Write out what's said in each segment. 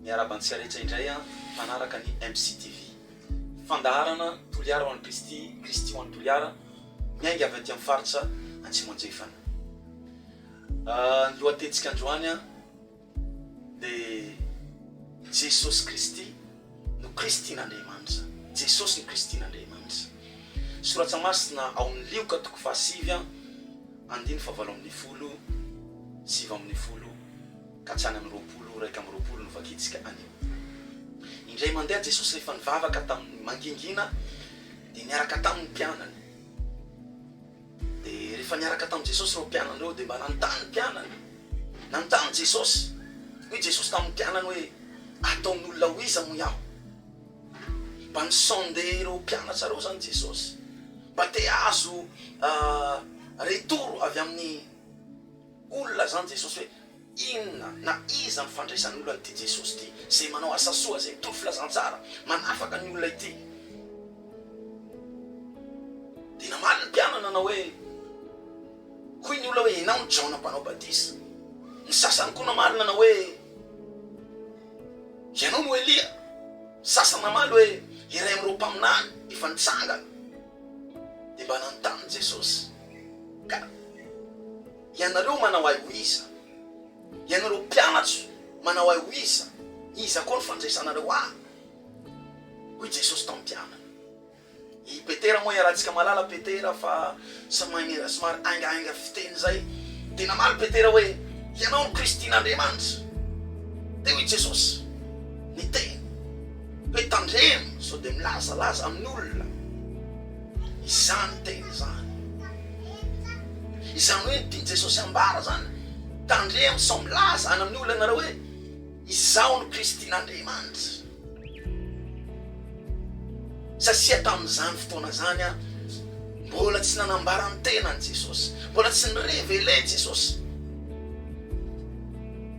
Miarahaba antsika rehetra indray an, mpanaraka ny MCTV. Fandaharana Toliara ho an'i Kristy, Kristy ho an'i Toliara, miainga avy aty amin'ny faritra Antsimo Andrefana. Ny lohatentsika androany an. Dia Jesosy Kristy no Kristin'Andriamanitra. Jesosy no Kristin'Andriamanitra. Soratra masina ao amin'ny Lioka toko fahasivy an, andininy fahavalo ambin'ny folo, sivy ambin'ny folo ka hatrany amin'ny roapolo, iraika amby roapolo no vakintsika anio. Indray mandeha Jesosy rehefa nivavaka tamin'ny mangingina dia niaraka taminy mpianany. Dia rehefa niaraka tamin'i Jesosy ireo mpianany ireo, dia mba nanontany ny mpianany. Nanontany Jesosy. Hoy Jesosy tamin'ny mpianany hoe, Ataon'olona ho iza moa aho? Mba ni-sonder ireo mpianatra ireo izany Jesosy, mba te hahazo retour avy amin'ny olona izany Jesosy hoe, Inona na iza no fandraisan'olona an'ity Jesosy ity, izay manao asa soa, izay mitondra filazantsara, manafaka ny olona ity? Dia namaly ny mpianany nanao hoe, Hoy ny olona hoe, Ianao no Jaona Mpanao Batisa. Ny sasany koa namaly nanao hoe, Ianao no Elia. Ny sasany namaly hoe, Iray amin'ireo mpaminany efa nitsangana. Dia mba nanontany Jesosy ka. Ianareo manao ahy ho iza? Ianareo mpianatro manao ahy ho iza? Iza koa no fandraisanareo ahy? hoy Jesosy tamin'ny mpianany. I Petera moa iarahantsika malala Petera fa somary somary haingahainga fiteny izay dia namaly Petera hoe, Ianao no Kristin'Andriamanitra. Dia hoy Jesosy, Niteny hoe, Tandremo sao dia milazalaza amin'ny olona. Izany teny izany. Izany hoe ny tian'i Jesosy ambara izany, tandremo sao milaza any amin'ny olona ianareo hoe, Izaho no Kristin'Andriamanitra. Satria tamin'izany fotoana izany mbola tsy nanambara ny tenany Jesosy, mbola tsy ni-reveler Jesosy.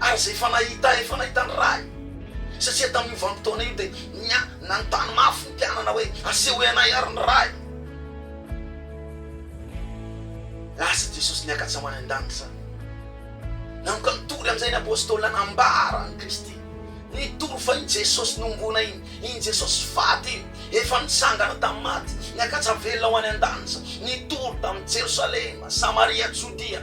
Ary izay efa nahita, efa nahita ny Ray. Satria tamin'io vanim-potoana io dia nia, nanontany mafy ny mpianana hoe, Asehoy anay àry ny Ray. Lasa Jesosy niakatra ho any an-danitra izany. Nanomboka nitory amin'izay ny Apôstôly nanambara an'i Kristy. Nitory fa iny Jesosy nohomboana iny, iny Jesosy faty iny, efa nitsangana tamin'ny maty, niakatra velona ho any an-danitra. Nitory tamin'i Jerosalema, Samaria, Jodia.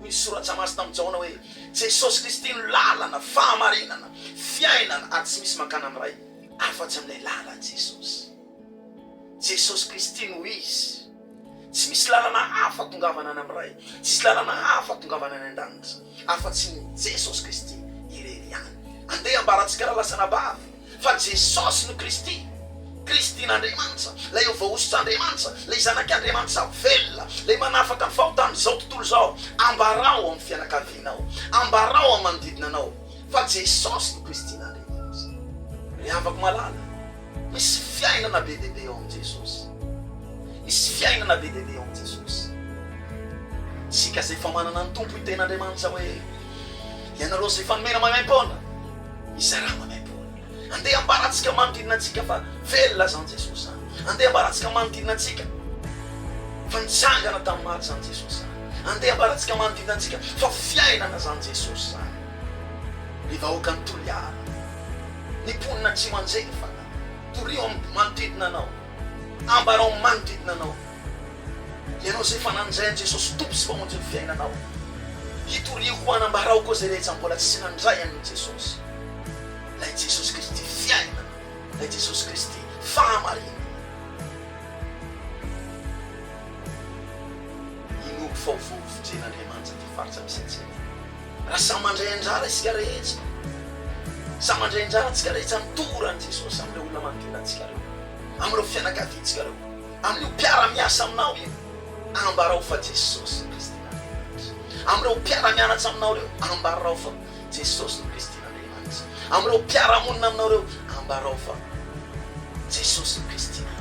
Ny Soratra Masina amin'i Jaona hoe, Jesosy Kristy no lalana, fahamarinana, fiainana ary tsy misy mankany amin'ny Ray afa-tsy amin'ilay lalan'i Jesosy. Jesosy Kristy no izy. Tsy misy lalana hafa atongavana any amin'ny Ray, tsisy lalana hafa atongavana any an-danitra afa-tsy ny Jesosy Kristy irery ihany. Andeha ambarantsika raha lasa anabavy. Fa Jesosy no Kristy, Kristin'Andriamanitra, ilay eo voahosotr'Andriamanitra, ilay Zanak'Andriamanitra velona, ilay manafaka ny fahotan'izao tontolo izao. Ambarao amin'ny fianakavianao, ambarao amin'ny manodidina anao fa Jesosy no Kristin'Andriamanitra. Ry havako malala, misy fiainana be dia be ao amin'i Jesosy. Misy fiainana be dia be ao amin'i Jesosy. Isika izay efa manana ny Tompo hiteny Andriamanitra hoe, Ianareo izay efa nomena maimaim-poana, Izay raha maimaimpoana. Andeha ambarantsika manodidina antsika fa velona izany Jesosy izany. Andeha ambarantsika manodidina antsika fa nitsangana tamin'ny maty izany Jesosy izany. Andeha ambarantsika manodidina antsika fa fiainana izany Jesosy izany. Ry vahoakan'i Toliara, ny mponina Tsimanjery fanahy, torio amin'ny manodidina anao. Ambarao ny manodidina anao, ianao izay efa nanan'izay an'i Jesosy Tompo sy Mpamonjy ny fiainanao. Itoriako ho anambarao koa izay rehetra mbola tsy nandray an'i Jesosy. Ilay Jesosy Kristy fiainana, ilay Jesosy Kristy fahamarinana. Inoako fa ho voavotren'Andriamanitra ity faritra misy antsika ity. Raha samy mandray anjara isika rehetra, samy mandray anjara antsika rehetra amin'ny toran'i Jesosy amin'ireo olona manodidina antsika ireo, amin'ireo fianakaviantsika ireo, amin'io mpiara-miasa aminao io, ambarao fa Jesosy no Kristin'Andriamanitra. Amin'ireo mpiara-mianatra aminao ireo, ambarao fa Jesosy no Kristin'Andriamanitra. Amin'ireo mpiara-monina aminao ireo, ambarao fa Jesosy no Kristin'Andriamanitra.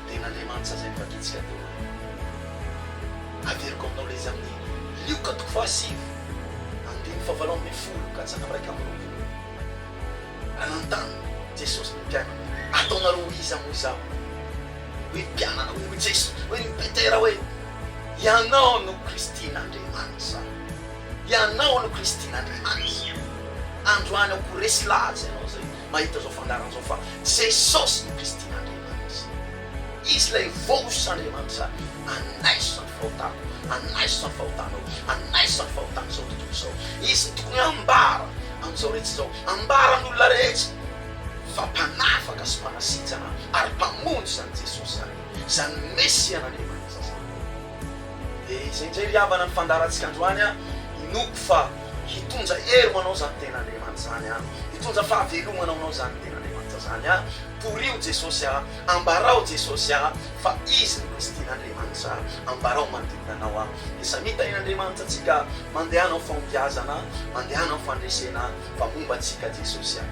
Ren'Andriamanitra izay nivakitsika teo aloha. Averiko aminao ilay izy amin'ny Lioka toko fahasivy andininy fahavalo ambin'ny folo ka hatramin'ny iraika amby roapolo. Nanontany Jesosy ny mpianany, Ataonareo ho iza moa izaho? Hoy ny mpianany, hoy Jesosy, hoy ny Petera hoe, Ianao no Kristin'Andriamanitra. Ianao no Kristin'Andriamanitra. Androany aho ko resy lahatra ianao izay mahita izao fandaharana izao fa Jesosy no Kristy Andriamanitra. Izy ilay voice Andriamanitra anaiso izany fahotako, anaiso izany fahotanao, anaiso izany fahotan'izao tontolo izao. Izy no tokony ambara amin'izao rehetra izao, ambara amin'ny olona rehetra fa mpanafaka sy mpanasitrana ary mpamonjy izany Jesosy izany, izany Mesian'Andriamanitra izany. Dia izay indray ry havana no fandaharantsika androany an! Inoako fa hitondra hery ho anao izany Tenin'Andriamanitra izany an! Hitondra fahavelomana ho anao izany Tenin'Andriamanitra izany an! Torio Jesosy an! Ambarao Jesosy an! Fa Izy no Kristin'Andriamanitra an! Ambarao manodidina anao an! Dia samia Tahin'Andriamanitra antsika an! Mandehana ho fahombiazana an! Mandehana ho fandresena an! Fa momba antsika Jesosy an!